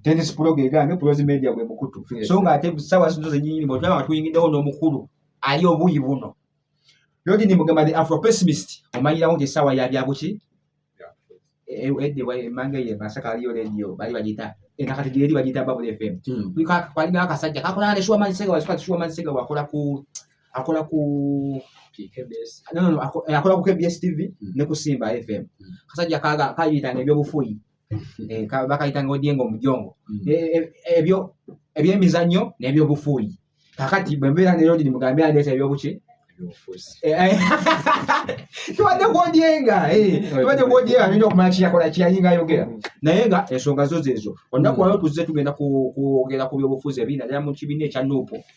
Dennis Proge egaanye Prozi Media gwe mukutu so nga ate sawa zino zenyini bwe tulaba tuyingidewo n'omukulu ali obuyi buno Lodi ni mugamba the Afro pessimist omanyirawo nti sawa ya byabuki edde wa emanga ye masaka aliyo radio bali bagita ena kati gyeeri bagita Bubble FM hmm. kwalina akasajja kakolana ne Shuwa Mansega wasifati Shuwa Mansega wakola ku akola ku akola ku KBS TV hmm. ne ku Simba FM hmm. kasajja kaga kayita ne byobufuyi eh, ka- bakayitanga odyenga omujongo Mm. Eh, eh, ebyo ebyemizannyo n'ebyobufuuyi kakati bwe mbeera ne lodi mugambe andeeta ebyobuki Ebyobufuzi. Eh, eh. tubadde kwodyenga eh, tubadde kwodyenga nyo okumanya kiyakola kiyayinga ayogera naye nga ensonga zo zezo olunaku Mm. waliwo tuzze tugenda ku- kwogera ku byobufuzi ebiri naddala mu kibiina ekya nuupu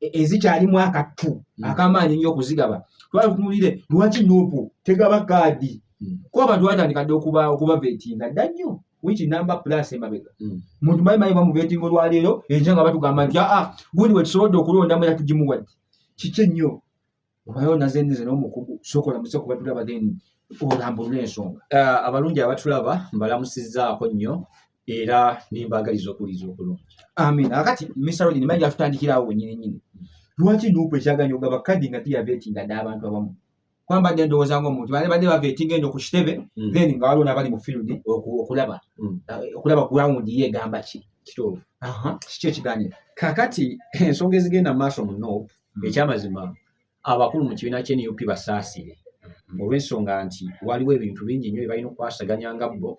e, ezikyalimu akattu hmm. akamaanyi nnyo okuzigaba twala tutunulire lwaki nuupu tegaba kaadi hmm. kuba abantu batandika dde okuba okuba vetinga dda nnyo wiki namba plus emabega hmm. muntu mayi mayi bamuvetinga olwaleero enkya nga batugamba nti aa ah, ah, gundi wetusobodde okulondamu era tugimuwadde kiki ennyo obayo nazendize n'omukugu sokola muse kuba tulaba then olambulula ensonga ah, abalungi abatulaba mbalamusizaako nnyo era nembaagaliza okuwuliza okulungi amin akati misarodi nimanyi atutandikirawo wenyini nyini lwaki nuupu ekyaganya ogaba kadi nga tiyavetinga dda abantu abamu kwamba dde ndowooza nga omuntu bane badde bavetinga eno ku kitebe mm. then nga waliwo nabali mu field okulaba mm. ah, okulaba ground ye egamba ki kiki ekiganira kakati ensonga ezigenda mu maaso mu nuupu hmm. ekyamazima abakulu mu kibiina kye nup basaasire hmm. olw'ensonga nti waliwo ebintu bingi nnyo byebalina okukwasaganya nga bo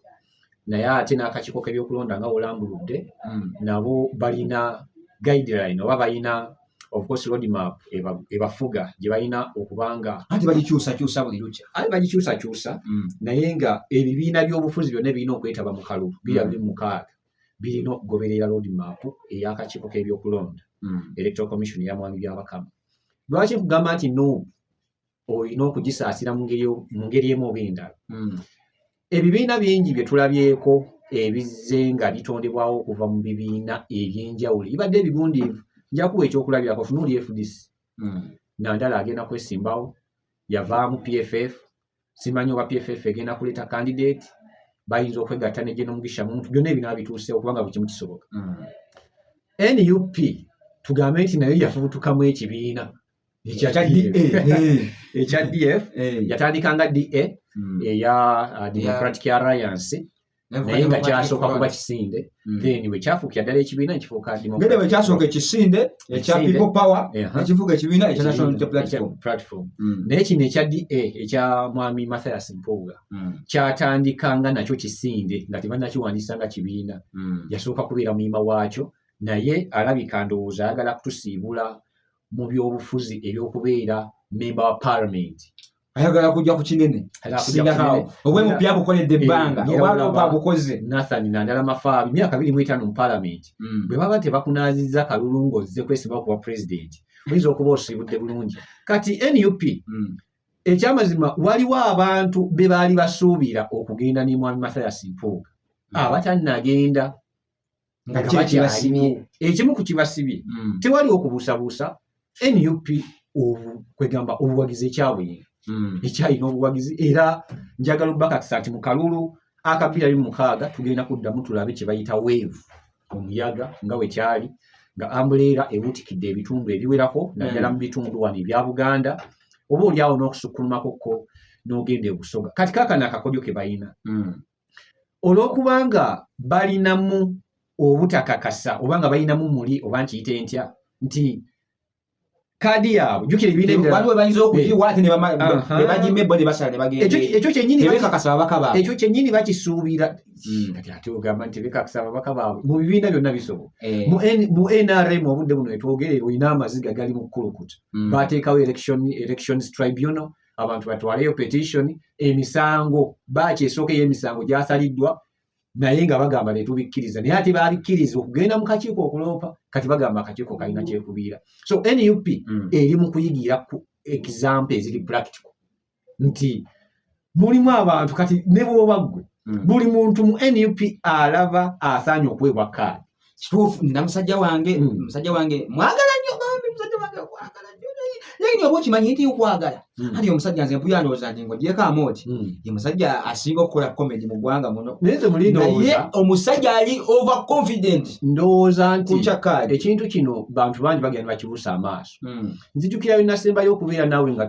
naye ate n'akakiiko k'ebyokulonda nga wolambuludde hmm. nabo balina guideline oba balina ofcourse roadmap ebafuga gye balina okubanga anti bagikyusakyusa buli lukya ate bagikyusakyusa naye nga ebibiina by'obufuzi byonna ebirina okwetaba mu kalulu bira biri mukaaga birina okugoberera roadmap ey'akakiiko k'ebyokulonda hmm. electoral commission ya mwami byabakama lwaki nkugamba nti noob olina okugisaasira mu ngeri emu oba endala hmm. ebibiina bingi bye tulabyeko ebizze nga bitondebwawo okuva mu bibiina eby'enjawulo ibadde ebigundiivu njakuwa ekyokulabirako tunuuli fdc hmm. nandala agenda kwesimbawo yavaamu pff simanyi oba pff egenda kuleeta candidate bayinza okwegatta ne geno mugisha muntu byonna ebinaba bituuse okubanga buli kimu kisoboka mm. nup tugambe nti nayo yafubutukamu ekibiina ekya df yatandika nga da mm. eya uh, democratic alliance naye nga kyasooka kuba kisinde mm. then wekyafuukira ddala ekibiina nekifuuka ngede wekyasooka ekisinde ekya people power ekifuuka ekibiina ekya national platform mm. naye kino ekya da ekya mwami mathias mpuuga mm. kyatandika nga nakyo kisinde nga tebanakiwandiisa nga kibiina yasooka kubeera muyima waakyo naye alabika ndowooza ayagala kutusiibula mu byobufuzi ebyokubeera memba wa parliament ayagala kujja ku kinene sindakawo obwemupya abukoledde eh, ebbanga obwalopa abukoze nathan nandala mafaabi myaka biri mu etaano mu palamenti hmm. bwe baba tebakunaazizza kalulu ng'ozze kwesimba kuba pulezidenti oyinza okuba osiibudde bulungi kati nup hmm. ekyamazima waliwo abantu be baali basuubira okugenda ne mwami mathias mpuuga hmm. abatannagenda nga kiri kibasibye ekimu ku kibasibye mm. tewali okubuusabuusa nup kwegamba obuwagizi ekyabuyinga mm. ekyalina obuwagizi era njagala obubakakisa nti mu kalulu akabira bi mukaaga tugenda kuddamu tulabe kye bayita weevu omuyaga nga we kyali nga ambuleera ebuutikidde ebitundu ebiwerako naddala mm. mu bitundu wano ebya buganda oba oli awo n'okusukkulumako ko n'ogenda ebusoga kati kakana akakodyo ke balina olw'okubanga balinamu obutakakasa oba nga balinamu muli oba nkiyite ntya nti kaadi yaabwe jukira ebiina ebiralaekyo kyennyini bakisuubira hmm. ogamba nti bekakasa babaka baabwe mu bibiina byonna bisobola eh. mu nrm obudde buno etwogerera olina amaziga gali mu kulukuta hmm. bateekawo elections tribunal abantu batwaleyo petition emisango baaki esooka ey'emisango gyasaliddwa naye nga bagamba netubikkiriza naye ate babikkiriza okugenda mu kakiiko okuloopa kati bagamba akakiiko kalina kyekubiira so nup mm. eri mu kuyigira ku example eziri practical nti mulimu abantu kati ne bwoba ggwe mm. buli muntu mu nup alaba asaanye okuweebwa kaadi kituufu nina musajja wange hmm. musajja wange mwagala nnyo bambi musajja wange okwagala nnyo naye nyo oba okimanyi nti okwagala hmm. anti omusajja nze mpuya ndowooza nti ngogyeko amooti hmm. ye musajja asinga okukola komedi mu ggwanga muno naye omusajja ali over confident ndowooza nti ekintu kino bantu bangi bagenda bakibuusa amaaso nzijukirayo nasembayo okubeera naawe nga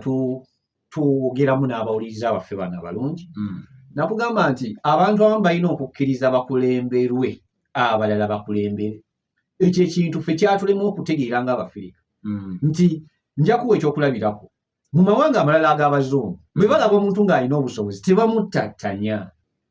twogeramu n'abawuliriza baffe bano abalungi hmm. nakugamba nti abantu abamu balina okukkiriza bakulemberwe abalala bakulembere ekyo ekintu fe kyatulemu okutegeera nga abafirika hmm. nti njakuwa ekyokulabirako mu mawanga amalala ag'abazungu bwe hmm. balaba omuntu ng'alina obusobozi tebamuttattanya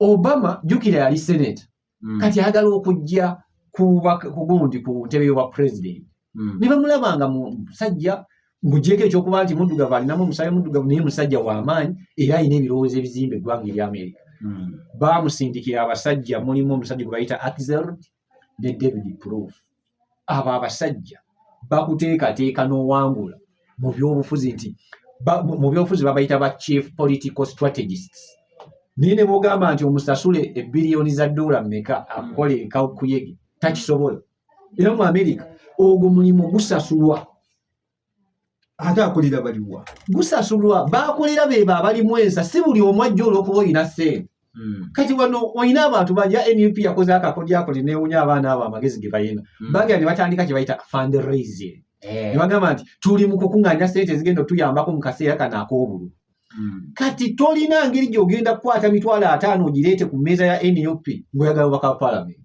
obama jukira yali senate mm. kati ayagala okujja kugundi ku ntebe yoba president mm. ne bamulaba nga musajja ngujeeko ekyokuba nti muddugavu alinamu omusaayi muddugavu naye musajja wamaanyi era alina ebirowoozo ebizimba eggwanga erya amerika mm. bamusindikira abasajja mulimu omusajja gwe bayita axel ne david proof abo abasajja bakuteekateeka n'owangula mu byobufuzi nti mu byobufuzi babayita ba chief political strategists naye ne bogamba nti omusasule ebiriyoni za doola meka akola ekaukuyege takisobola era mu amerika ogwo mulimu gusasulwa ate akulira baliwa gusasulwa bakulira beba abalimu ensa si buli omu ajja olwokuba olina sente hmm. kati wano olina abantu baja nup yakoze akakodyakuli newunya abaana abo amagezi ge balina hmm. bagera ne batandika kye bayita fundraising eh. ne bagamba nti tuli mu kukuŋŋaanya sente ezigenda otuyambako mu kaseera kano ak'obulu hmm. kati tolina ngeri gy'ogenda kukwata mitwalo ataano ogireete ku mmeeza ya nup ng'oyagala obaka palamenti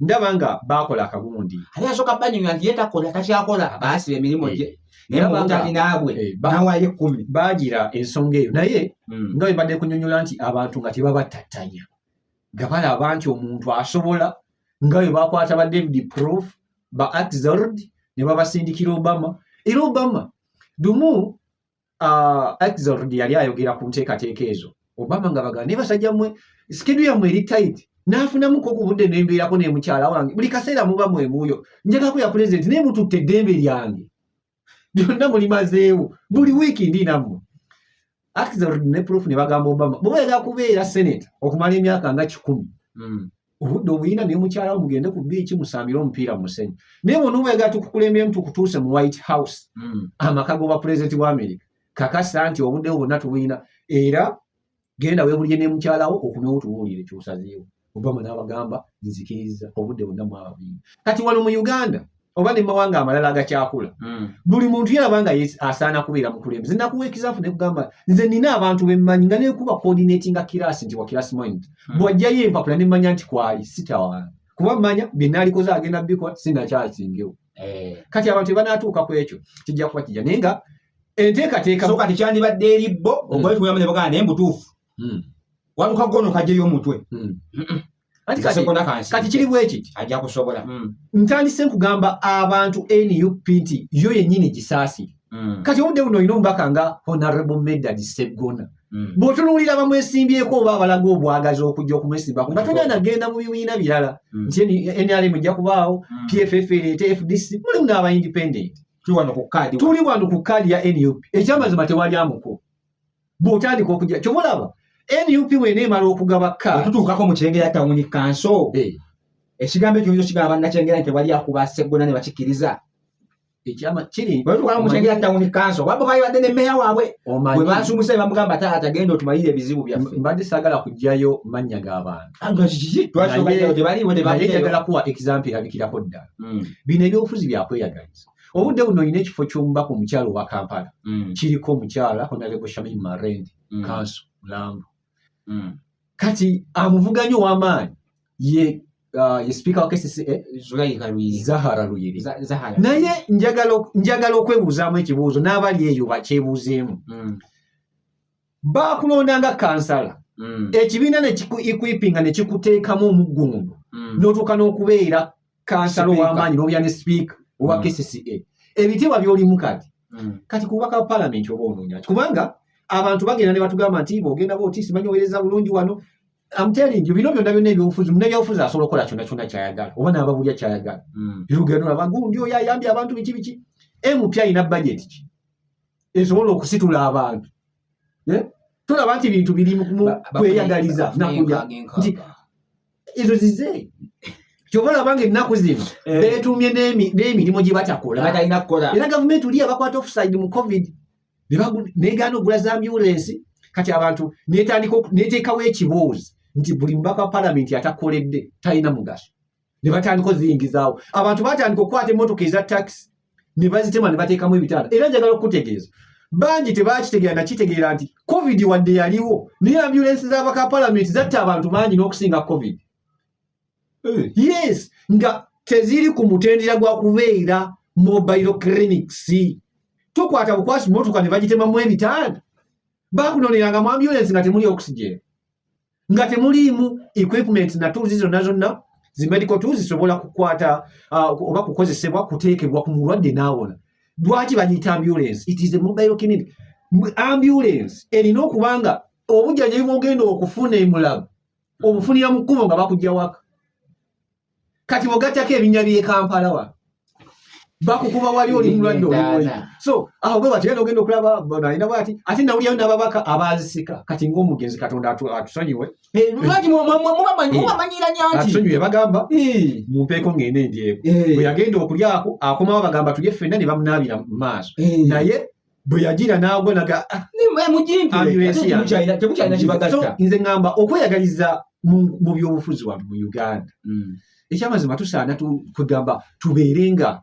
ndaba nga baakola akagundi ate yasooka banyumya nti ye takola takyakola baasiba emirimu gye eh, naye mutali naabwe eh, nawayo ekkumi baagira ensonga eyo naye hmm. nga bebadde kunyonyola nti abantu nga tebabatattanya nga balaba nti omuntu asobola nga bwe bakwata ba david proof ba axord ne babasindikira obama era obama dumu uh, Axelrod yali ayogera ku nteekateeka ezo Obama nga bagala naye basajja mwe sikidu yammwe eri tight n'afunamuko okubudde nembeerako ne mukyala wange buli kaseera muba mwemuuyo njagako ya pulezidenti naye mututte eddembe lyange byonna mulimazeewo buli wiiki ndi nammwe Axelrod ne proof ne bagamba Obama bwe bayagala kubeera senate okumala emyaka nga kikumi mm. obudde obuyina ne mukyala mugende ku biiki musambire omupiira mu musenyu naye bonobeega tukukulembyemu tukutuuse mu white house hmm. amaka goba pulezidenti wa amerika kakasa nti obudde bwo bonna tubuyina era genda webulire ne mukyalawo okumewo tubuulire kyosazeewo obama n'abagamba nzikiriza obudde bonna mwababiri kati wano mu uganda oba ne mawanga amalala agakyakula mm. buli muntu yalaba nga asaana kubeera mukulembeze nakuwa ekizaafu nekugamba nze nina abantu bemmanyi nga nekuba coordinatinga kirasi nti wakirasi mind mm. bwajjayo empapula nemmanya nti kwali sitawana kuba manya byenalikoze agenda bikola sinakyasingewo eh. kati abantu ebanatuuka ku ekyo kijja kuba kijja naye nga enteekateekasoka tekyandibadde eri bo mm. ogwetuyamba ne bagana naye mbutuufu mm. waluka gono kajeyo omutwe mm. kati kiri bwekiti ajja kusobola hmm. ntandise nkugamba abantu nup nti yo yennyini gisaasire hmm. kati obudde buno olina omubaka nga honorable medad seggona hmm. bwotunuulira bamwesimbyeko oba abalaga obwagazi okujja okumwesimbako nga tolina nagenda mu bibiina birala nti nrm ejja kubaawo pff ereete fdc mulimu n'aba independent tuli wano ku kaadi ya nup ekyamazima tewali amuko bw'otandika okujja kyoba olaba nup wena emala okugaba ka otutuukako mu kyengera tawuni kanso eh. ekigambo ekyo nzo kigamba nakyengera nti tewali akuba seggona ne bakikkiriza ekyama kiri batukamu kyengera tawuni kanso wabwe bayibadde ne meya waabwe bwe bansumuse bamugamba taata genda otumalire ebizibu byaffe mbadde saagala kujjayo mannya g'abantu ah, tebaliwo tebagala kuwa example erabikirako ddala hmm. bino ebyobufuzi byakweyagaliza obudde buno olina ekifo ky'omubaka omukyala owa kampala mm. kiriko omukyala honarebo shamim marendi mm. kanso mulambo mm. kati amuvuganyi ow'amaanyi ye uh, ye sipiika wa kcca eh, zahara luyiri naye njagala okwebuuzaamu ekibuuzo n'abali eyo bakyebuuzeemu baakulonda nga kansala mm. ekibiina nekikuipinga nekikuteekamu omuggundu mm. notuuka n'okubeera kansala ow'amaanyi n'obeera ne sipiika owa mm. kcca ebitiibwa byolimu kati mm. kati kubaka wa palamenti oba onoonya ki kubanga abantu bagenda ne batugamba nti bogenda ba otiisi manyi owereza bulungi wano amtelingi bino byonna byonna ebyobufuzi munebyobufuzi asobola okukola kyonna kyonna kyayagala oba naababulya kyayagala mm. yogenda olaba gundi oyo ayambye abantu biki biki mpi alina bajeti ki esobola okusitula abantu eh? tolaba nti bintu biri mukweyagaliza nakuja nti ezo zize kyova olabanga ennaku zino eh. beetuumye n'emirimu gye batakola era gavumenti oli abakwata offside mu covid negaana okugula za ambulensi kati abantu neteekawo ekibuuzi nti buli mubaka wa palamenti atakoledde talina mugaso ne batandika oziyingizaawo abantu batandika okukwata emmotoka eza takisi ne bazitema ne bateekamu ebitanda era njagala okukutegeeza bangi tebakitegeera nakitegeera nti covid wadde yaliwo naye ambulensi z'abaka palamenti zatta abantu bangi n'okusinga covid eh. yes nga teziri ku mutendera gwa kubeera mobile clinics tokwata bukwasi motoka ne bagitemamu ebitanda bakunoneranga mu ambulensi nga temuli oxygen nga temuliimu equipment na tools zonna zonna zi medical tools zisobola kukwata uh, oba kukozesebwa kuteekebwa ku mulwadde n'awona lwaki bagiyita ambulance it is a mobile clinic ambulance erina okuba nga obujjanjabi bwogenda okufuna emulago obufunira mu kkubo nga bakujja waka kati bwogattako ebinya byekampala wa bakukuba wali oli mulwadde olimuli so aho bwe batera nogenda okulaba balina bwati ate nawulyayo nababaka abazisika kati ngaomugenzi katonda atusonyiwe eh, atusonyiwe bagamba mumpeeko ngende endyeko bweyagenda okulyako akomawo bagamba tulye fenna ne bamunaabira mu maaso naye bwe yagira n'agwa naga ah, nze ŋamba okweyagaliza mu byobufuzi watu mu uganda mm. ekyamazima tusaana kwegamba tubeere nga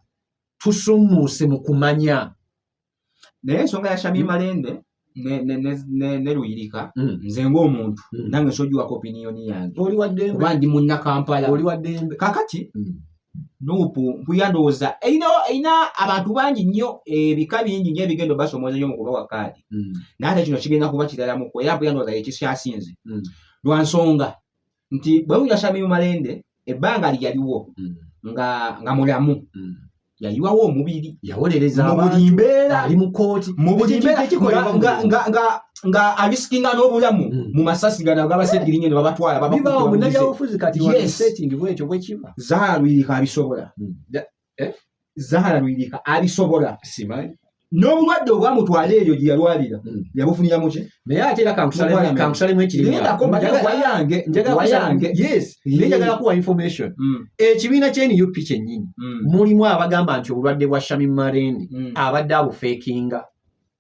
tusumuuse mu kumanya naye ensonga ya shami mm. malende neluyirika mm. nze ngaomuntu nange sojiwako opiniyoni yange kuba ndi munnakampala kakati nuupu mpuya ndowooza erina erina abantu bangi nnyo ebika bingi nnyo ebigenda obasomooza nnyo mu kubawa kaadi mm. naye ate kino kigenda kuba kiralamuko era mpuya ndowooza yekikyasinze mm. lwa nsonga nti bwe muja shamimu malende ebbanga lyaliwo mm. nga nga mulamu mm. yayiwawo omubiri yawolereza mu buli mbeera ali mu kkooti mu buli mbeera nga nga abisikinga n'obulamu hmm. mu masasi gano agabasegirinyo ne babatwala zaalwirika abisobola hmm. eh? zaalwirika abisobola n'obulwadde obwamutwala eyo gye yalwalira hmm. yabufunira muki naye ate era kankusalemu ekiriwayange njagala kuwa information hmm. ekibiina kya nup kyennyini hmm. mulimu abagamba nti obulwadde bwa shami marendi abadde abufeekinga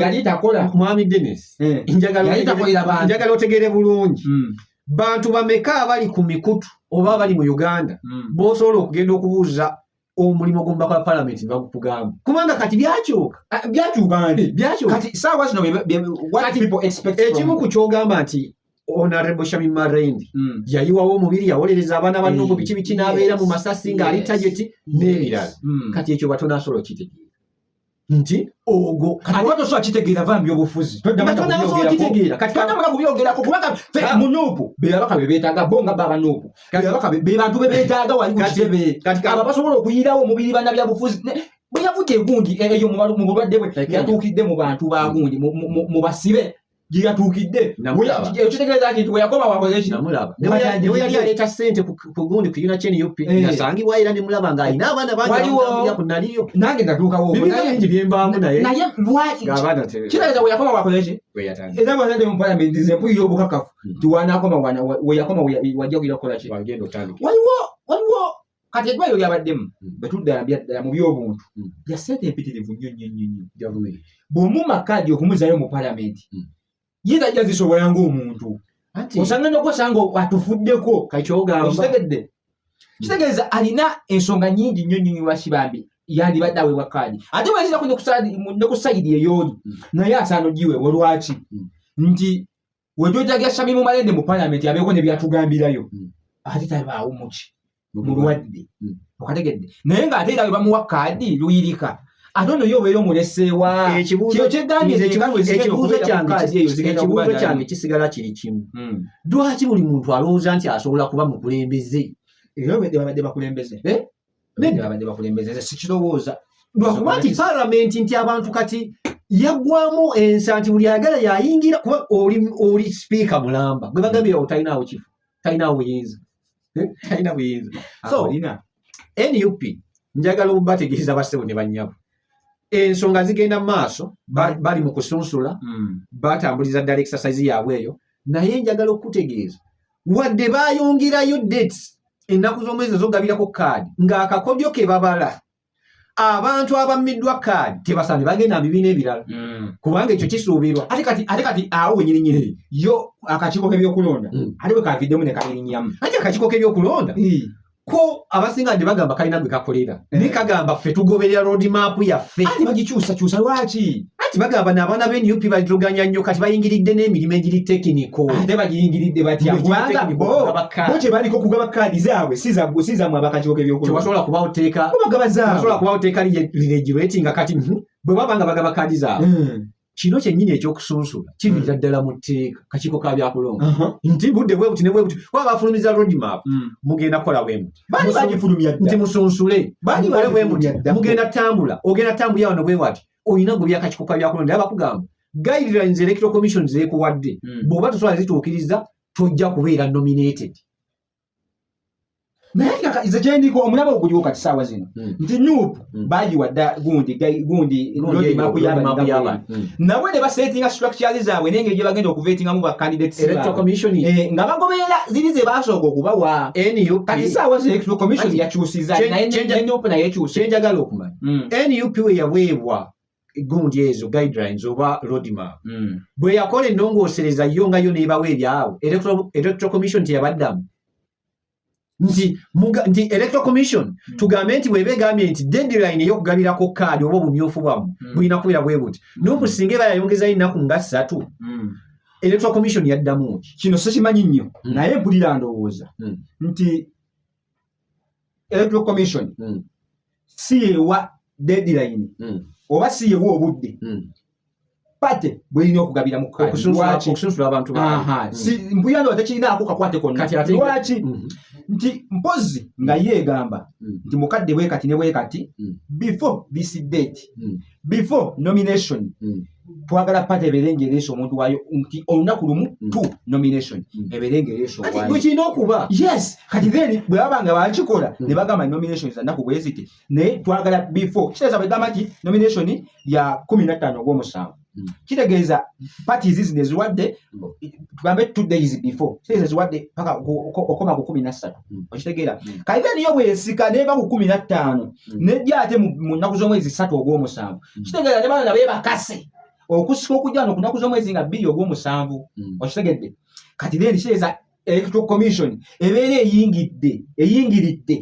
yali takola mwami denis eh. njagala otegere bulungi hmm. bantu bameka abali ku mikutu oba abali mu uganda hmm. bosobola okugenda okubuuza omulimu ogumba kwa palamenti bagukugamba kubanga kati byakyuka ah, byakyuka nti byakyukati saawa zino ekimu ku kyogamba nti honorable shami marendi mm. yayiwawo omubiri yawolereza abaana banne oku mm. biki biki n'abeera mu masasi ng'ali tageti n'ebirala mm. kati ekyo batonasobola okitegeera nti ogwo katuba tosobola kitegeera va mbyobufuzi todamakitegeera kati todamuka kubyogerako kubanga fe ah. munuupu bebabaka bebetaaga bo nga baba nuupu bebabaka bebantu bebetaaga wali kukitebe kati abo basobola okuyirawo omubiri bana byabufuzi bwe yavuga egundi eyo mu bulwadde bwe yatuukidde mu bantu bagundi mu basibe gye yatuukidde ekitegeeza nti nti weyakoma wakoze ekinamulabaniwe yali aleeta sente ku gundi ku yuna kyeni yopi eh. nasangibwa era ne mulaba nga alina abaana bangiwaliwo ku naliyo nange natuukawo bingi byembaamu naye naye lwakitegeeza weyakoma wakoze ki era bwazadde mu palamenti nze mpulira obukakafu hmm. nti wanakoma weyakoma wajja kugira kukola ki waliwo waliwo kati eddwaliro lyabaddemu hmm. betuddala byaddala mu byobuntu hmm. bya sente empitirivu nnyo nnyo nnyo nnyo gavumenti bw'omuuma kaadi okumuzayo mu palamenti hmm. ye tajja zisobola ng'omuntu osanga nokosanga atufuddeko kakyogaokitegedde kitegeeza alina ensonga nyingi nnyo nnyo nyiwaki bambi yandibadde aweebwa kaadi ate bwezira ku ne ku sayidi eyooli naye asaana ogiweebwa lwaki nti wejojaga shamimu malende mu parliament abeeko ne byatugambirayo mm. ate tabaawo muki mulwadde mm. okategedde naye ng'ate era webamuwa kaadi luyirika ate ono yo obeera omuleseewa kino kyegambyeekibuuzo kyange kisigala kiri kimu mm. lwaki buli muntu alowooza nti asobola kuba mukulembeze era webadde bakulembeze eh? bene babadde bakulembeza nze sikirowooza lwakuba nti palamenti nti abantu kati yaggwamu ensa nti buli ayagala yayingira kuba oli sipiika mulamba gwe bagambira otalinaawo kifu talinaawo buyinza eh? talina buyinza so nup njagala obategeeza bassebo ne bannyabo ensonga zigenda mu maaso bali mu kusunsula hmm. batambuliza ddala exercise yaabwe eyo naye njagala okukutegeeza wadde bayongerayo dates ennaku z'omwezi ezogabirako kaadi ng'akakodyo ke babala abantu abammiddwa kaadi tebasaani bagenda bibiina ebirala mm. kubanga ekyo kisuubirwa ate kati ate kati awo wenyirinyiri yo akakiiko k'ebyokulonda mm. ate bwe kaviddemu ne kabirinyamu ate akakiiko k'ebyokulonda ko abasinga nti bagamba kalina gwe kakolera eh. naye kagamba ffe tugoberera road map yaffe ati bagikyusakyusa lwaki ati bagamba n'abaana be nup balituganya nnyo kati bayingiridde n'emirimu egiri tekiniko ate bagiyingiridde batyakubangabote baliko kugaba kaadi zaabwe sizamu abakakiwoka ebyokulwasobola kubawo teeka bagaba zaabwe kubawo teeka liregireti nga kati hmm, bwe baba nga bagaba kaadi zaabwe hmm. kino kyennyini ekyokusunsula kiviira mm. ddala mu tteeka kakiiko ka byakulonda uh-huh. nti budde bwebuti ne bwebuti kuba bafulumiza roadmap mm. mugenda kukola bwemuti nti musunsule mukole bwemuti mugenda tambula ogenda tambulira wano bwewati olina gwe byakakiiko ka byakulonda era bakugamba guidelines electoral commission zeekuwadde mm. bw'oba tosobola zituukiriza tojja kubeera nominated naye kaka nze kyendiko omulaba oguliwo kati saawa zino hmm. nti nup hmm. bagiwa dda gundi gundi londimaku yabantu hmm. nabwe ne basetinga structures zaabwe naye ngeri gye bagenda okuvetingamu bacandidates eh, nga bagoberera ziri ze basooka okubawa kati saawa zino electoral commission yakyusiza naye nup naye ekyuse kyenjagala okumanya nup we yaweebwa gundi ezo guidelines oba roadmap mm. bwe yakola ennongoosereza yo nga yo neebawo ebyawo electoral commission teyabaddamu nti nti electoral commission mm. tugambe nti bweba egambye nti deadline eyokugabirako kaadi oba obumyufu bwamu mm. bulina kubera bwe buti mm. noku singa eba yayongezayo ennaku nga ssatu mm. electoral commission yaddamu ki kino sikimanyi nnyo mm. naye mpulira ndowooza mm. nti electoral commission mm. si yewa deadline mm. oba si yewa obudde mm. pate bwelina okugabira mukusunsula abantu mm. mbuyano tekirinaako kakwate konnalwaki mm-hmm. nti mpozi nga yeegamba mm. nti mukadde bwekati ne bwekati mm. before this date before nomination mm. twagala pate ebeere ngaereesa omuntu waayo nti olunaku lumu mm. t nomination mm. ebeere ngaereesakirina okuba yes kati then bwe baba nga bakikola mm. ne bagamba nomination zanaku bweziti naye twagala before kitegeeza bwegamba nti nomination ya kumi nattaano ogwomusanvu kitegeeza pati zizi neziwadde tugambe two days before kitegeeza ziwadde paka okoma ku kumi nassatu hmm. okitegeera hmm. kayita niyo bwesika neva ku kumi nattaano hmm. nejja ate mu nnaku z'omwezi ssatu ogw'omusanvu kitegeera ne bana nabe bakase okusika okujja no ku nnaku z'omwezi nga bbiri ogw'omusanvu okitegedde kati then kitegeeza electoral commission ebeera eyingidde eyingiridde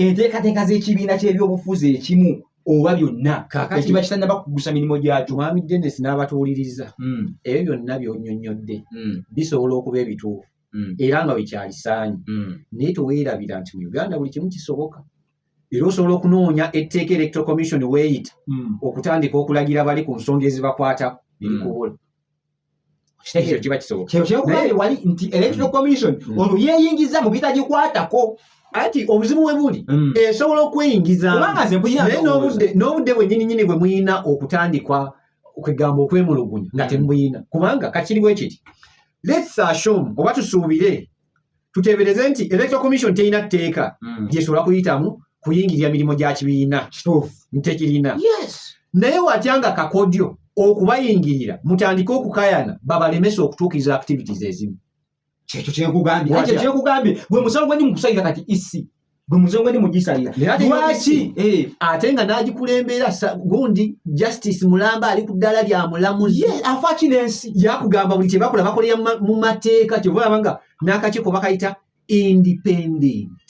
enteekateeka z'ekibiina ky'ebyobufuzi ekimu oba byonna ekiba kitannaba kugusa mirimu gyakyo mwami denis n'abatuwuliriza hmm. ebyo byonna byonyonyodde hmm. bisobola okuba ebituufu mm. era nga wekyalisaanyi mm. naye tewerabira nti mu uganda buli kimu kisoboka era osobola okunoonya etteeka electoral commission weeyita mm. okutandika okulagira bali ku nsonga ezibakwatako nebikubola mm. ekyo kiba kisoboka kyo kyokuba wali nti electoral mm. commission mm. olwo yeeyingiza mu bitagikwatako anti obuzibu we buli mm. esobola okweyingizamu n'obudde bwennyininyini bwe mulina okutandikwa kwegamba okwemulugunya nga temuyina kubanga kakiriwo ekiti lets assume oba tusuubire tuteebereze nti electoral commission terina tteeka hmm. gyesobola kuyitamu kuyingirira mirimu gya kibiina ntekirina naye watya nga kakodyo okubayingirira mutandike okukayana babalemesa okutuukiriza activities ezimu kyekyo kyenkugambye ekyo kyenkugambye gwe musango gwendi mukusalira kati isi gwe musango gwendi mugisalira lwaki eh. ate nga nagikulembera gundi justice mulamba ali ku ddala lya mulamuzi afaki nensi yakugamba buli kyebakola bakolera mu mateeka kyovaaba nga n'akakiiko bakayita independent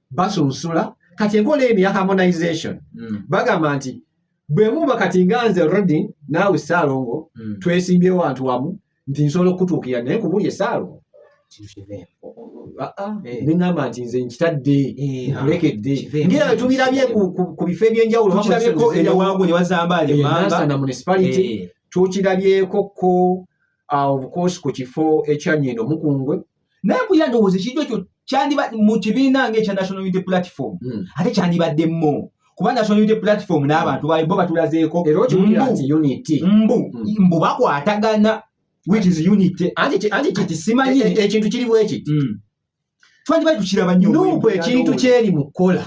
basunsula kati enkola eno ya harmonization mm. bagamba nti bwe muba kati nga nze rodi naawe saalongo mm. twesimbye wantu wamu nti nsobola okutuukira naye kubuli esaalongo neŋamba nti nze nkitadde nkulekedde ngera tubirabye ku bifo ebyenjawulo na municipality tukirabyeko ko obukoosi ku kifo ekyanyendo mukungwe naye mpulira ndowooza ekintu ekyo kyandiba mu kibiina nga ekya national unity platform hmm. ate kyandibadde mo kuba national unity platform n'abantu bayo bo batulazeeko mbu hmm. mbu bakwatagana which is unity anti simanyi e- e- ekintu kiriwo ekiti hmm. twandibali tukiraba nyo nuupu ekintu kyeri mu kukola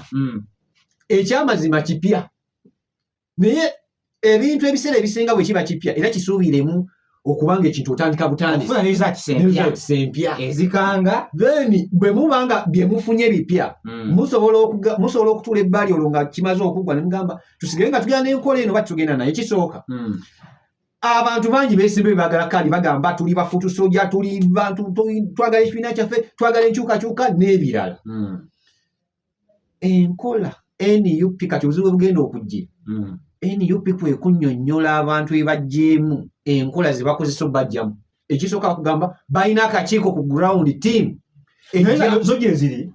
ekyamazima kipya naye ebintu ebiseera ebisinga bwe kiba kipya era kisuubiremu okubanga ekintu otandika butandisempya ezikanga then bwe mubanga bye mufunye bipya hmm. musobola okutula ebbali olwo nga kimaze okuggwa ne mugamba tusigale nga tugenda n'enkola eno batugenda naye kisooka hmm. abantu bangi besimbe bagala kandi bagamba tuli bafutu soja tuli bantu twagala ekibiina kyaffe twagala enkyukakyuka n'ebirala hmm. enkola nup kati obuzibu bugenda okujja hmm. nup kwekunyonyola abantu ebajjeemu enkola zebakozesa obajjamu ekisooka kugamba balina akakiiko ku ground team ezo gyeziri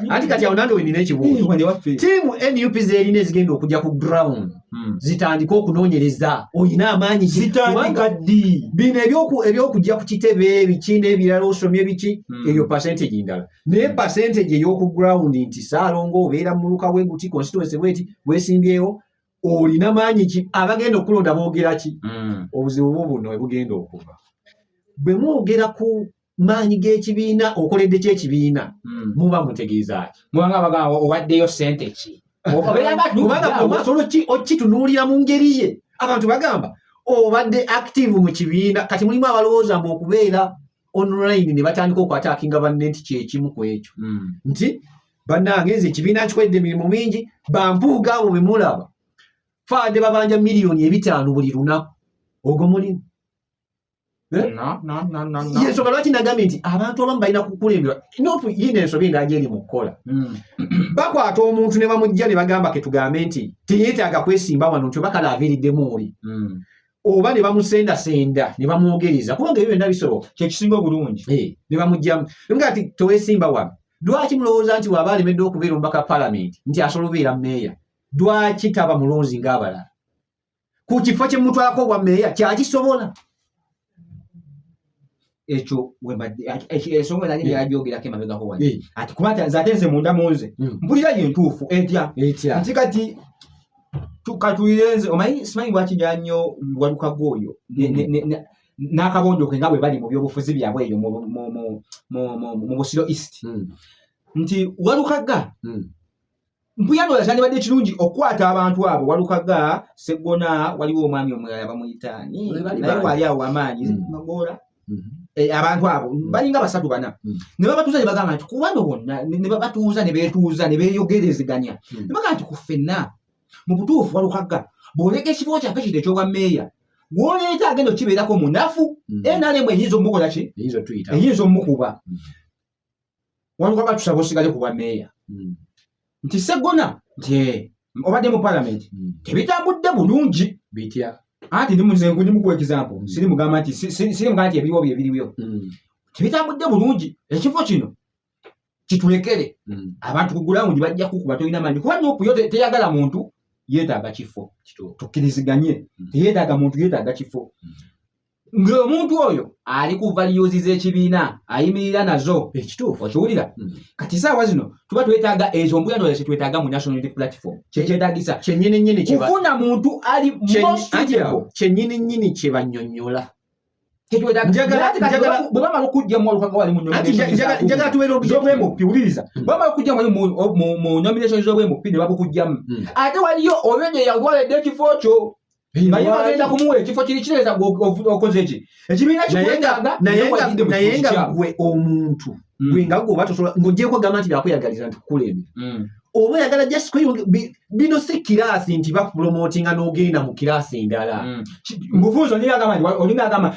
anti kati awo nange wenina ekibuuzo tiimu nup zerina ezigenda okujja ku ground Hmm. zitandike okunonyereza olina amaanyi zitandika ddi bino ebyokujja ku kitebe ebiki n'ebirala osomye biki hmm. eyo percentage ndala naye hmm. percentage ey'oku ground nti saalongo obeera muluka weguti constituency bweti wesimbyewo olina maanyi ki abagenda okulonda boogera ki obuzibu bwo buno ebugenda okuva bwe mwogera ku maanyi g'ekibiina okoledde ki ekibiina hmm. muba mutegeezaaki mubanga abagamba owaddeyo sente ki okitunuulira mu ngeri ye abantu bagamba obadde active mu kibiina kati mulimu abalowooza mbu okubeera online ne batandika okwatakinga banne nti kyekimu ku ekyo hmm. nti bannange nze ekibiina nkikwedde emirimu mingi bampuuga abo be mulaba faade babanja miliyoni ebitaano buli lunaku ogwo mulimu Eh? yensonga lwaki nagambye nti abantu abamu balina kukulembera nofu yiina ensobi nga agyeri mu kukola hmm. bakwata omuntu ne bamujja ne bagamba ketugambe nti teyetaaga kwesimba wano nti oba kale aviriddemu oli hmm. oba ne bamusendasenda ne bamwogereza kubanga ebyo byonna bisoboka kyekisinga obulungi eh, ne bamugjamu nga ti tewesimba wano lwaki mulowooza nti waaba alemedde okubeera omubaka palamenti nti asobola obeera meeya lwaki taba mulonzi ngaabalala ku kifo kye mumutwalako obwa meeya kyakisobola ekyo ensonga nali yagyogerako emabegako wa ati kuba ate nze munda munze hmm. mpulira ye ntuufu etya nti kati katulire nze omanyi simanyi lwaki nyaa nnyo walukago oyo hmm. n'akabonjo ke nga bwe bali mu byobufuzi byabwe eyo mu busiro east hmm. nti walukaga mpuyano yasandibadde kirungi okukwata abantu abo walukaga segona waliwo omwami omulala bamuyitaani naye wali awo amaanyi mm. magoola mm-hmm. eh, abantu abo mm. balinga basatu bana mm. ne babatuuza ne bagamba nti kubano bonna ne babatuuza ne beetuuza ne beeyogerezeganya ne bagamba nti ku ffenna mu butuufu walukaga bw'oleeka ekifo kyaffe kino ekyobwa meeya gwoleeta agenda okukibeerako munafu mm. nrm eyinza omukola ki eyinza omukuba mm. waliwo abatusaba osigale ku bwa meeya hmm. nti segona nti obadde mu palamenti hmm. tebitambudde bulungi bitya anti ndi muze nkundi mukuwa ekizampo hmm. siri mugamba nti siri mugamba nti ebiriwo bye biriwo tebitambudde bulungi ekifo kino kitulekere abantu ku gulawundi bajja kukuba tolina manyi kuba nupu yo teyagala muntu yeetaaga kifo tukkiriziganye teyetaaga muntu yeetaaga kifo ng'omuntu oyo ali ku valiyuzi z'ekibiina ayimirira nazo ekituufu okiwulira hmm. kati saawa zino tuba twetaaga ezo mbuyano ze twetaaga mu national unity platform kyekyetagisa kyenyininyini kufuna muntu ali kyenyininyini kye banyonyola bwebamala okujja muwalukawalinjagala tubeera obuyobwemupi wuliriza hmm. bwebamala okujja mu nomination z'obwemupi ne babukujjamu hmm. ate waliyo oyo gye yagwaledde ekifo kyo naye bagenda kumuwa ekifo kiri kireza okoze ki ekibiina kikwetaaga naye nga gwe omuntu mm. gwe nga gwe oba tosobola ng'ogyeko gamba nti byakweyagaliza nti kukulembera mm. oba oyagala just kweyonge bino si kiraasi nti bakupromotinga n'ogenda mu kiraasi endala mm. mufunzi olinga agamba nti olinga agamba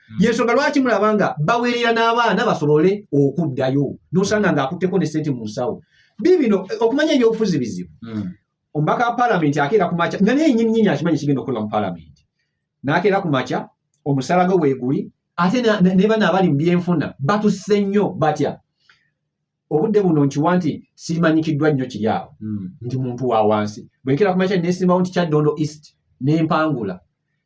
hmm. yensonga lwaki mulaba nga bawerera n'abaana basobole okuddayo nosanga nga akutteko ne sente mu nsawo bibino okumanya ebyobufuzi bizibu hmm. omubaka wa palamenti akeera ku makya nga naye nyininyini akimanyi kigenda okukolwa mu palamenti n'akeera ku makya omusala gwe weeguli ate nebana abali mu byenfuna batusse nnyo batya obudde buno nkiwa nti simanyikiddwa nnyo kiri awo hmm. ndi muntu wa wansi bwenkera ku makya nesimbawo nti kyaddondo east nempangula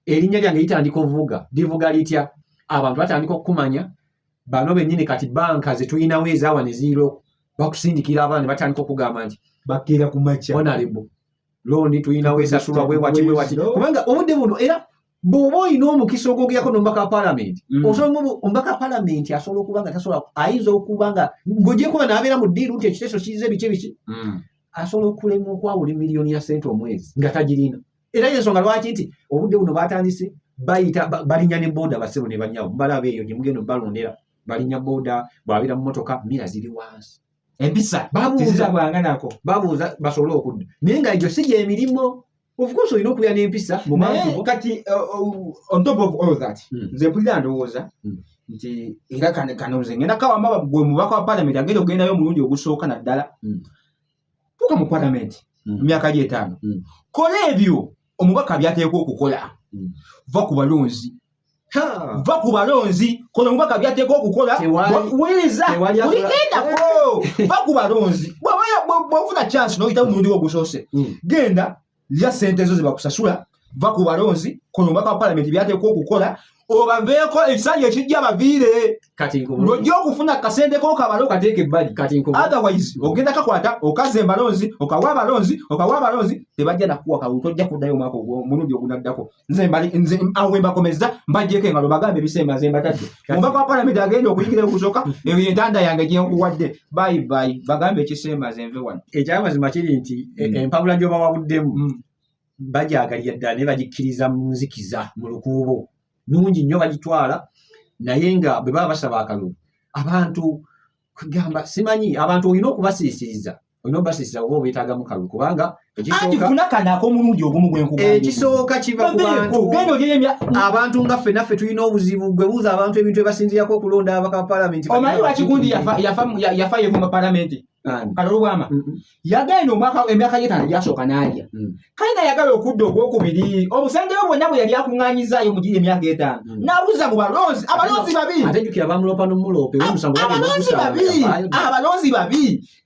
erinnya lyange litandika ovuga livuga litya abantu batandika okukumanya bano bennyini kati banka zetulinawo ezawa neziiro bakusindikira abaana nebatandika okugamba nti bakira ku makya onalebo londi tulinawo esasulwa bwewati bwewati kubanga obudde buno era bw'oba olina omukisa ogwogerako n'omubaka wa palamenti mm. osobola omubaka wa palamenti asobola okuba nga tasobola ayinza okuba nga ng'ogyekuba n'abeera mu ddiiru nti ekiteeso kiiza ebiki biki mm. asobola okulema okwawula emiliyoni ya sente omwezi nga tagirina era yensonga lwaki nti obudde buno batandise bayita balinya ne booda basebo ne banyawo mubalaba eyo gye mugenda obalondera balinya booda bwabeera mu motoka mira ziri wansi empisa babuuza bwanganako babuuza basobole okudda naye nga egyo si gyemirimu of course olina okubeera n'empisa mu naye bantu bo kati uh, uh, on top of all that Mm. nze mpulira ndowooza Mm. nti era kano kano nze ngenda kawamba gwe mubaka wa palamenti agenda okugendayo omulundi ogusooka naddala Mm. tuuka mu palamenti Mm. mu myaka gy'etaano Mm. kola ebyo omubaka byateekwa okukola Mm. va ku balonzi va ku balonzi kono mubaka byateeka okukola wuliriza uligendako va ku balonzi bwofuna chance noyita mumundi wogusoose hmm. genda lya sente ezo zebakusasula va ku balonzi kono mubaka wa palamenti byateeka okukola obaveeko ekisanyi ekijja baviire ng'ojja okufuna kasente ko kabale okateeka ebbali otherwise ogenda kakwata okaza embalonzi okawa abalonzi okawa abalonzi tebajja nakuwa kawe tojja kuddayo omwaka omulundi ogunaddako nze awo wembakomeza mbajjeko engalo bagambe ebisemba nze mbatadde omubaka wa palamenti agenda okuyingira okusoka eyo entanda yange gyenkuwadde bayi bayi bagambe ekisemba nze nve wano ekyamazima kiri nti e, mm. empabula gyobawabuddemu mm. bagyagalira ddala naye bagikkiriza mu nzikiza mu lukuubo nungi nnyo bagitwala naye nga bwe baba basaba akalulu abantu kugamba simanyi abantu olina okubasiisiriza olina okubasiisiriza oba obeetagamu kalulu kubanga ekisooka kiva ku bantu abantu nga ffe naffe tulina obuzibu gwe buuza abantu ebintu ebasinzirako okulonda abaka palamenti omanyi wakigundi yafa yevuma palamenti kalulu bwama yagenda omwaka emyaka gyetaano egyasooka n'alya hmm. kayina yagala okudda ogwokubiri obusengeyo bwonna bwe yali akuŋŋaanyizaayo mu giri emyaka etaano hmm. n'abuza mu balonzi abalonzi babi atajukira bamuloopa n'omuloope abalonzi babi abalonzi babi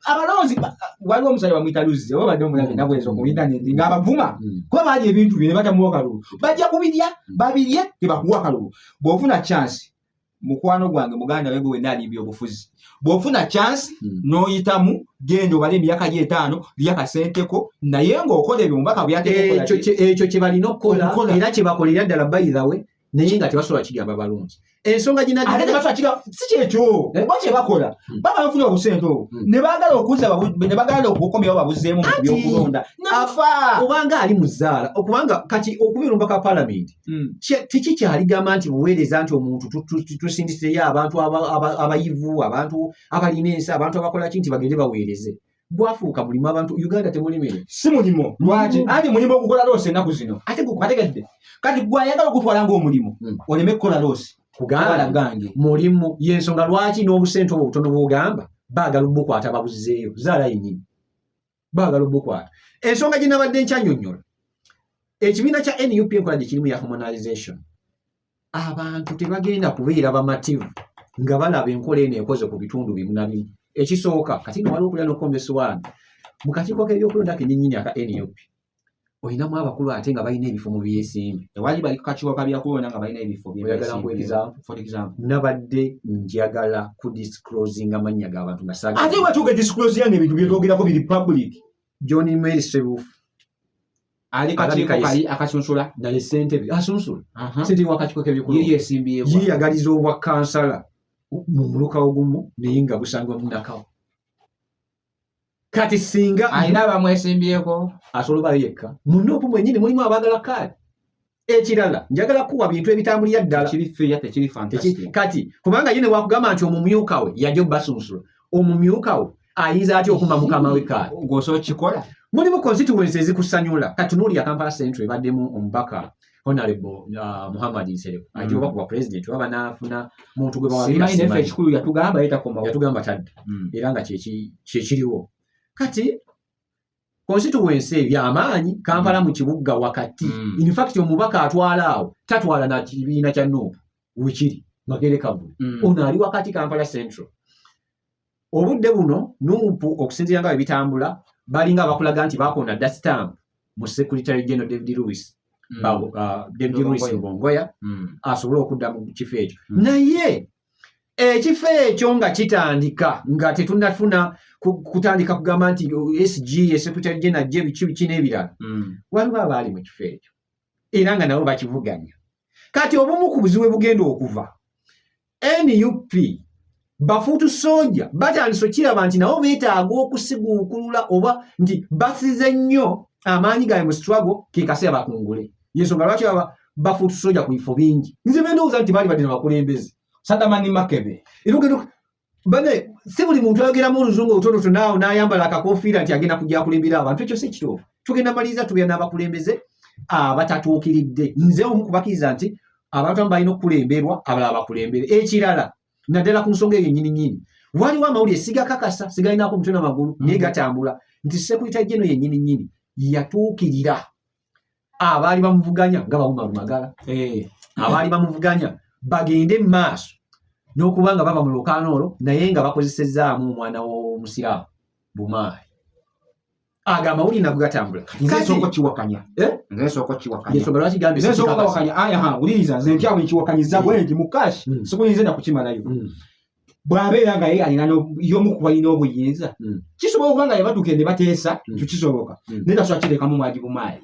abalonzi waliwo omusajja bamuyita luzzi oba badde omulabe hmm. nabwenza ku intaneti ng'abavuma kuba baali ebintu bye ne batamuwa kalulu bajja kubirya babirye tebakuwa kalulu bw'ofuna chansi mukwano gwange muganda we gwe nali byobufuzi bwofuna chance hmm. noyitamu genda obale emyaka gye etaano lya kasenteko naye ng'okola ebyo mubaka byatekyo kye balina okukola era kye bakolera ddala bayirawe naye nga tebasobola kigamba balungi ensonga ginasikyekyokyo eh? oba kye bakola hmm. baba bafuna obusente obwo hmm. ne bagala okuza ne bagala okukomyawo babuzeemu mu byokulonda nafa obanga ali muzaala okubanga kati okuba erumbaka palamenti hmm. tekikyarigamba nti buweereza nti omuntu tusindiseyo abantu abayivu abantu abalina ensi abantu abakolaki nti bagende baweereze gwafuuka mulimu abantu uganda temulimire si mulimu lwaki hmm. anti mulimu ogukola loosi enaku zino ate gukubategedde kati gwayagala okutwala ngaomulimu hmm. oleme kukola loosi kugala gange mulimu yensonga lwaki n'obusente obwo butono bwogamba baagala obukwata babuzizeeyo zaala yenyini baagala obukwata ensonga gye nabadde nkyanyonyola ekibiina kya nup enkola gye kirimu ya harmonization abantu tebagenda kubeera bamativu nga balaba enkola eno ekoze ku bitundu bimu na bimu ekisooka kati nga waliwo okulya nokukomba esiwaani mu kakiiko k'ebyokulonda kenyinyini aka nup olinamu abakulu ate nga balina ebifo mu byesimbi tewali bali kukakiwaka byakuwona nga balina ebifo nabadde njagala ku disclosing amannya gabantu ngaate watuuka disclose yange ebintu byetwogerako biri public john mary sebufu ali kakiiko kali akasunsula naye sentebe asunsula sente wakakiko kebyekuyeyagaliza obwa kansala mu muluka ogumu naye nga busangwa munakawo kati singa alina abamwesimbyeko asobola obayo yekka munne oku mwenyini mulimu abagala kaadi ekirala njagala kuwa bintu ebitambulira ddala kati kubanga ye newakugamba nti omumyuka we yaja obasunsula omumyuka we ayinza atya okuma mukama we kaadi gwosa okikola mulimu constituensi ezikusanyula kati nuuli ya kampala central ebaddemu omubaka honorable uh, muhammad nsereko mm. ajja oba ku bapulezidenti oba banaafuna muntu gwe bawabiraefe ekikulu yatugamba yetakomayatugamba tadda mm. era nga kyekiriwo kati konsituwensi eyo yamaanyi kampala mu kibuga wakati mm. infact omubaka atwala awo tatwala na kibiina kya nuupu wekiri magere kavulu mm. ono ali wakati kampala central obudde buno nuupu okusinziira nga bebitambula balinga abakulaga nti bakonda dda stamp mu secretary general david lewis mm. uh, david lewis lubongoya mm. asobole okudda mu kifo ekyo mm. naye ekifo ekyo nga kitandika nga tetunafuna kutandika kugamba nti oh, sg secretary general je biki biki n'ebirala mm. waliwo abaali mu kifo ekyo era nga nabo bakivuganya kati obumu ku buzibu bugenda okuva nup bafuutu soja batandise okiraba nti nabo beetaaga okusiguukulula oba nti basize nnyo amaanyi gaabwe mu struggle ke kaseera bakungule yensonga lwaki baba bafuutu soja ku bifo bingi nze bendowooza nti baali badde nabakulembeze sadamani makebe erugero bane si buli muntu ayogeramu oluzungu obutonoto naawo n'ayambala akakofiira nti agenda kujja akulembera abantu ekyo si ekituufu tugenda maliriza tubeera n'abakulembeze abatatuukiridde nze omu kubakiriza nti abantu amu balina okukulemberwa abalala bakulembere ekirala naddala ku nsonga eyo nyini nyini waliwo amawulire sigakakasa sigalinaako omutwe namagulu mm-hmm. naye gatambula nti sekulita jeno yenyini nyini yatuukirira abaali bamuvuganya nga bawuma lumagala eh. abaali bamuvuganya bagende mu maaso n'okuba nga baba mu lukaano olwo naye nga bakozesezaamu omwana w'omusiraamu bumaali ago amawulire nago gatambula nzesooka kiwakanya eh? nzesooka kiwakanyensonga lwaki gambe nzesooka kawakanya aya ha wuliriza nze ntyawo nkiwakanyiza hmm. bwenti mu kash hmm. sikuyinza nakukimalayo hmm. bwabeera nga ye alina yomu ku balina obuyinza kisobola okuba nga yebatuuke ne bateesa kyo kisoboka naye tasobola kirekamu mwagibumaali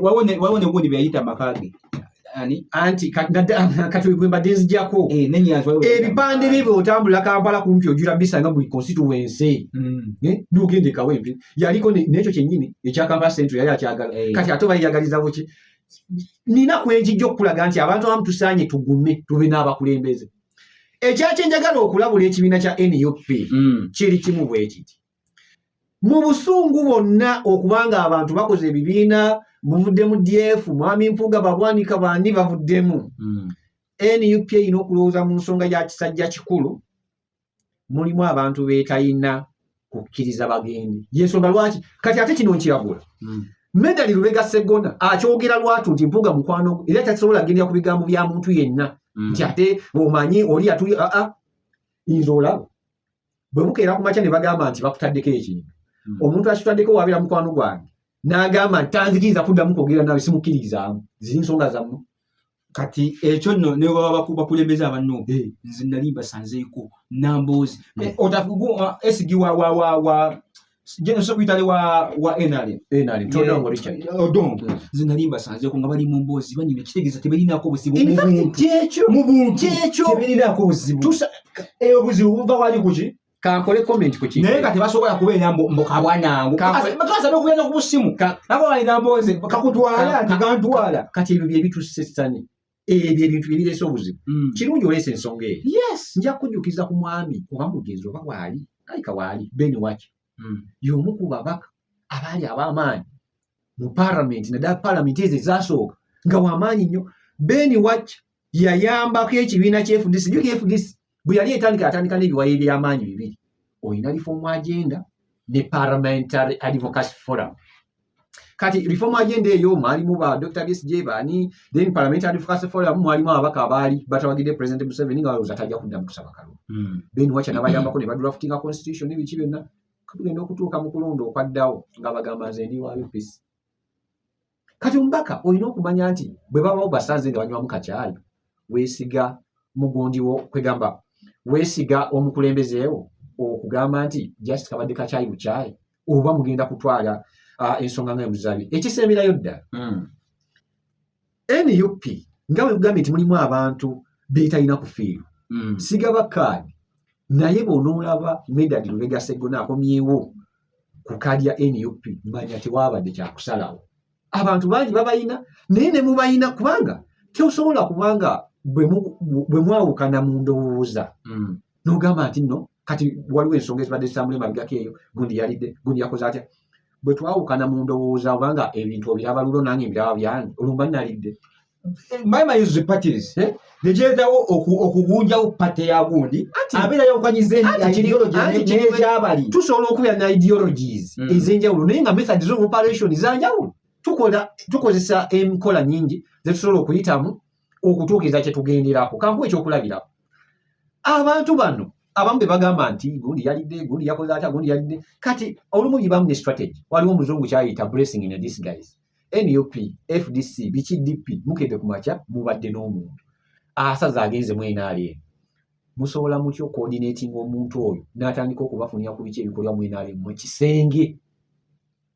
waliwo negundi byeyayita makage anti katwegwembadenzijako eh, ebipande bye bwotambula kampala kumpi ojula bisanga buli constituency hmm. eh, nogende kawempe yaliko nekyo kyenyini ekya kampala central yali akyagala eh. kati ate bayeyagalizaboki nina kwenjijja okukulaga nti abantu abamu tusaanye tugume tube n'abakulembeze ekyakyenjagala okulabula ekibiina kya nup hmm. kiri kimu bwekiti mu busungu bwonna okubanga abantu bakoze ebibiina buvudde mu df mwami mpuuga babwanika bandi bavuddemu hmm. nup erina okulowooza mu nsonga ya kisajja kikulu mulimu abantu betalina kukkiriza bagende yensonga lwaki kati ate kino nkiragula hmm. medali lubega segona akyogera lwatu nti mpuuga mukwano era takisobola agendera ku bigambo bya muntu yenna hmm. nti ate omanyi oli yatuli aa ah, ah, inza olaba bwe bukeera ku makya ne bagamba nti bakutaddeko ekintu hmm. omuntu akitaddeko wabeera mukwano gwange n'agamba nti tanzikiriza kuddamu kwogera nawe simukkiriizaamu ziri nsonga zammwe kati ekyo nno ne baba bakulembeza abanno eh. nze nali mbasanzeeko namboozi eh. eh, otafugu esigi wa jeno sokuyitale wa wa nrm nrm todongo richard odongo mm. zinalimba sanze ko nga bali mu mbozi banyina kitegeza tebelinako buzibu mu buntu kyekyo mu buntu kyekyo tebelinako buzibu tusa e obuzibu buva wali kuki kankole comment ku kintu naye kati basobola kubeera mbu mbu kabwanangu bakaza n'okugenda ku busimu nabo balina mbozi kakutwala tigantwala kati ebyo bye bitusse sitani ebyo ebintu byebireese obuzibu mm. kirungi oleese ensonga eyo yes nja kujjukiza ku mwami oba mugenzi oba waali kalika waali ben waki mm. yomu ku babaka abaali ab'amaanyi mu paramenti naddala paramenti ezo ezasooka nga wamaanyi nnyo ben waki yayambako ekibiina kyefudisi jukefudisi bwe yali etandika yatandika n'ebiwayo eby'amaanyi bibiri olina reform agenda ne parliamentary advocacy forum kati reform agenda eyo mwalimu ba dr bsj baani then parliamentary advocacy forum mwalimu ababaka abaali batawagidde president museveni nga balowooza tajja kuddamu kusaba kalulu hmm. ben wacha nabayambako ne badraftinga constitution nebiki byonna tugenda okutuuka mu kulonda okwaddawo nga bagamba nze ndi wa upc kati omubaka olina okumanya nti bwe baba obasanze nga banywamu kakyayi weesiga mugundi wo kwegamba weesiga omukulembezeewo okugamba nti just kabadde kakyayi bukyayi oba mugenda kutwala uh, ensonga nga emuzabi ekisemberayo ddala hmm. nup nga wegambye nti mulimu abantu betalina kufiirwa hmm. sigaba kaadi naye bonoolaba medadi lubega seggona akomyewo ku kaadi ya nup manya tewabadde kyakusalawo abantu bangi babayina naye ne mubayina kubanga tosobola kubanga bwe mwawukana mu ndowooza mm. nogamba nti no kati waliwo ensonga ezibadde zitambula emabigako eyo gundi yalidde gundi yakoze atya bwe twawukana mu ndowooza obanga ebintu obiraba lulo nange mbiraba byange olumba nalidde my mind is parties eh? nejeetawo okugunjawo pate ya gundi abeera yawukanyiza ideology nekyabali tusobola okubeera na ideologies mm. ezenjawulo naye nga methods of operation zanjawulo tukola tukozesa enkola nyingi zetusobola okuyitamu okutuukiriza kyetugenderako kankuwa ekyokulabirako abantu bano abamu bebagamba nti gundi yalidde gundi yakoze atya gundi yalidde kati olumu yibamu ne strategy waliwo omuzungu kyayita blessing in a disguise nup fdc biki dp mukedde ku makya mubadde n'omuntu asaza agenze mu nrm musobola mutya okoordinating omuntu oyo n'atandika okubafunira ku biki ebikolwa mu nrm mu kisenge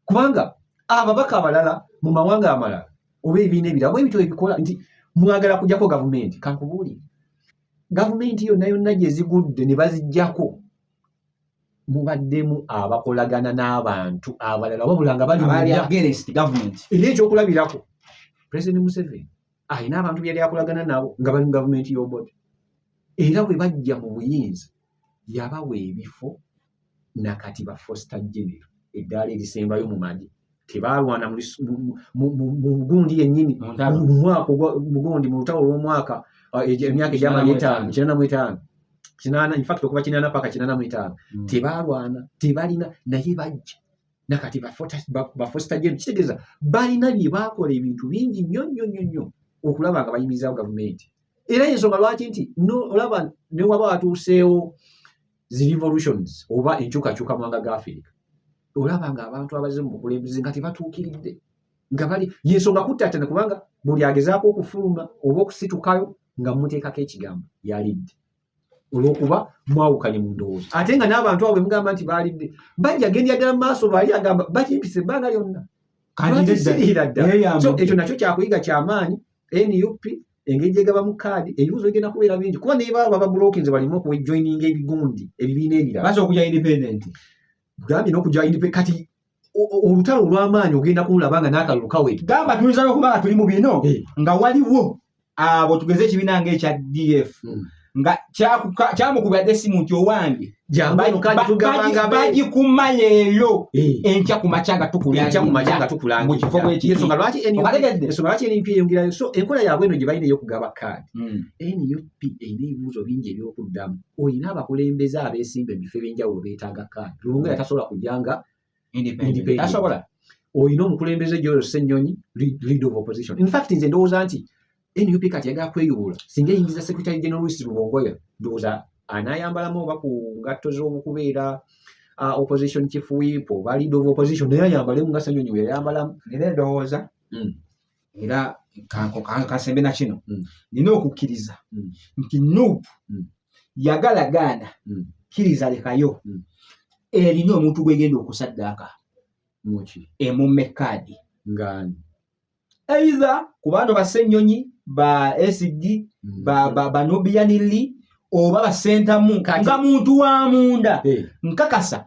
kubanga ababaka abalala mu mawanga amalala oba ebiina ebirabo ebityo ebikola nti mwagala kujjako gavumenti kankubuulire gavumenti yonna yonna gye zigudde ne bazijjako mubaddemu abakolagana n'abantu abalala wabula nga baliera ekyokulabirako president museveni alina abantu byeyali akolagana nabo nga bali mu gavumenti y'oboda era bwe bajja mu buyinza yabawa ebifo nakati ba foster genero eddaala erisembayo mu magi tebaalwana mu lis- mu- mu- mu- mu- mu gundi yennyini Mu ntalo. mu mwaka ogwa- mu gundi mu lutalo lw'omwaka ah, egi- emyaka egyamala Kinaana mu etaano etaano. kinaana mu etaano kinaana infact okuva kinaana paka kinaana mu etaano Mm. tebaalwana tebalina naye bajja nakati bafositageno kitegeeza balina bye baakola ebintu bingi nnyo nnyo nnyo nnyo okulaba nga bayimirizaawo gavumenti era yensonga lwaki nti no- olaba ne waba watuuseewo zi revolutions oba enkyukakyuka mwanga ga afirika olaba nga abantu abaze mu bukulembeze nga tebatuukiridde nga bali yensonga kuttatana kubanga buli agezaako okufuluma oba okusitukayo nga muteekako ekigambo yalidde olwokuba mwawukanye mu ndowooza ate nga n'abantu abo bemugamba nti baalidde bajja gendi addala mu maaso lwali agamba bakimpisa ebbanga lyonna ekyo nakyo kyakuyiga kyamaanyi nup engeri gyegabamu kaadi ebibuzo bigenda kubeera bingi kuba naye baba babulokinze balimu okujoininga ebigundi ebibiina ebiragambye nokuja kati olutalo olwamaanyi ogenda kululaba nga nakalulu kaweti gamba tuyinza nokuba nga tuli mu bino eh. nga waliwo abo tugeze ekibiina nga ekya df hmm. nga kyamukubira dde simu nti owange bagikumanya eyo eh. enkya ku makya nga tukulaaeyoyongerayo so enkola yaabwe eno gye balina eyokugaba kaadi hmm. nup erina ebibuuzo bingi ebyokuddamu olina abakulembeze abeesimba ebifo ebyenjawulo beetaaga kaadi lubunga yatasobola kujanga tasobola olina omukulembeze gyoyo senyonyi lead of opposition in fact nze ndowooza nti nup kati yagala kweyubula singa eyingiza secretary general luis lubongoya ndowooza anayambalamu oba ku ngatto z'omukubeera uh, opposition chief whip oba lead of opposition naye ayambalemu nga senyonyi weyayambalamu nera endowooza hmm. era kansembe na kino mm. nina okukkiriza mm. nti nup mm. yagala gaana kkiriza lekayo erina omuntu gwegenda okusaddaaka emumme kaadi ngani eitha ku baano basennyonyi ba sd banubianili oba basentamu nga muntu wa munda eh. nkakasa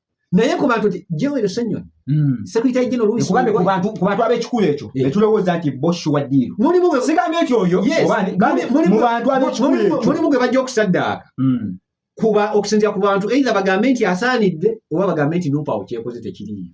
naye ku bantu nti joel senyoni hmm. sekuritayi gino luisikubantu abekikulu ekyo netulowooza nti boshi wa diiru sigambye nti oyo mulimu gwe bajja okusaddaaka hmm. kuba okusinzira ku bantu eitha bagambe nti asaanidde oba bagambe nti nupawo kyekoze tekiriiyo